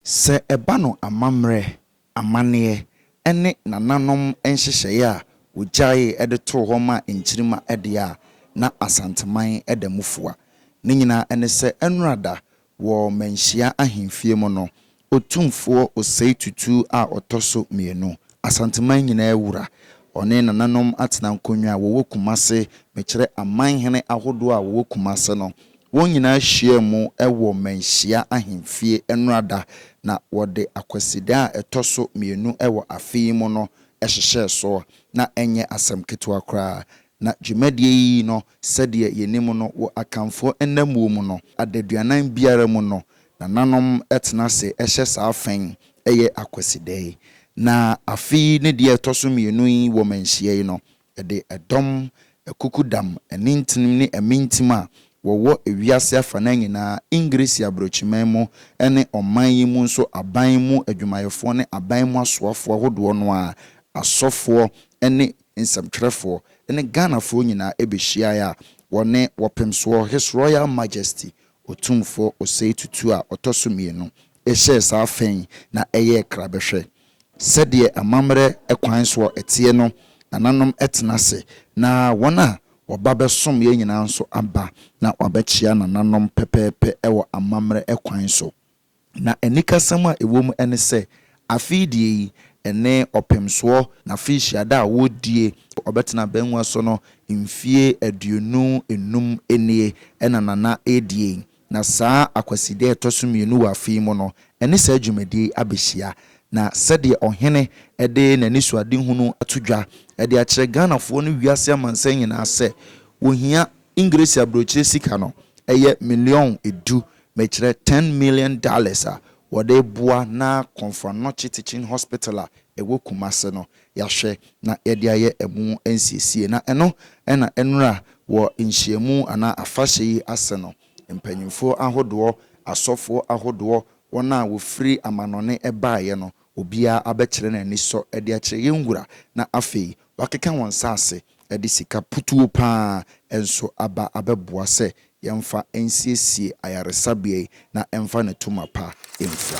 Sɛ ɛba no amammerɛ, amanneɛ, ne nananom nhyehyɛeɛ a wɔgyaee de too hɔ maa nkyirimma deɛ a, na Asanteman da mu fua. Ne nyinaa ne sɛ Anurada wɔ Manhyia ahemfie mu no, Otumfoɔ Osei Tutu a ɔtɔ so mmienu, Asanteman nyinaa wura, ɔne nananom atena nkonnwa a wɔwɔ Kumase, mekyerɛ amanhene ahodoɔ a wɔwɔ Kumase no, Wɔn nyinaa hyiaa mu wɔ Manhyia Ahemfie Nnora Da na wɔde Akwasida a ɛtɔ so mmienu wɔ afe yi mu no hyehyɛɛ so. Ná ɛnyɛ asɛm ketewa koraa. Ná dwumadie yi no, sɛdeɛ yɛnim no, wɔ Akanfoɔ nnammuo mu no, adaduanan biara mu no, nananom tena ase hyɛ saa fã yi yɛ Akwasida yi. Na afe yi ne deɛ ɛtɔ so mmienu yi wɔ Manhyia yi no, Ɛde ɛdɔm, akukudam, anintinim ne amintim a wɔwɔ wiase afanaa nyinaa, Engiresi Aborɔkyiman mu ne ɔman yi mu nso aban mu adwumayɛfoɔ ne aban mu asoafoɔ ahodoɔ no ara, asɔfoɔ ne nsɛmtwerɛfoɔ ne Ghanafoɔ nyinaa bɛhyiaeɛ a wɔne Wɔpemsoɔ His Royal Majesty Otumfoɔ Osei Tutu a ɔtɔ so mmienu Ɛhyɛɛ saa fã yi na ɛyɛɛ krabɛhwɛ. Sɛdeɛ amammerɛ kwan soɔ ɛteɛ no, nananom tena ase, na wɔn a wɔba bɛsom yɛn nyinaa nso aba na wɔabɛkyea nananom pɛpɛɛpɛ wɔ amammerɛ kwan so. Na anikasɛm a ɛwɔ mu ne sɛ, afe yi deɛ yi, ɛne Ɔpemsoɔ n'afe nhyiada a wɔredie, wɔbɛtena abangua so no mfeɛ aduonu nnum nie na Nana redie yi. Na saa Akwasideɛ a ɛtɔ so mmienu wɔ afe yi mu no, ɛne saa dwumadie yi abɛhyia. Na sɛdeɛ Ɔhene de n'anisoadehunu ato dwa de akyerɛ Ghanafoɔ ne wiase amansan nyinaa sɛ wɔhia Engiresi aburokyire sika no, ɛyɛ million du, mekyerɛ ten million dollars a wɔde reboa n'akɔmfoanɔkye Teaching Hospital a ɛwɔ Kumasi no. yɛahwɛ na yɛde ayɛ ɛmu nsiesie na ɛno na ɛnura wɔ nhyiamu anaa afahyɛ yi ase no, mpanyimfoɔ ahodoɔ, asɔfoɔ ahodoɔ, wɔn a wɔfiri amanɔne baeɛ no, obiara abɛkyerɛ n'anisɔ de akyerɛ yɛn Wura na afei wɔakeka wɔn nsa ase de sika putuo pa ara nso aba abɛboa sɛ Yɛmfa nsiesie ayaresabea yi na ɛmfa ne toma pa mfra.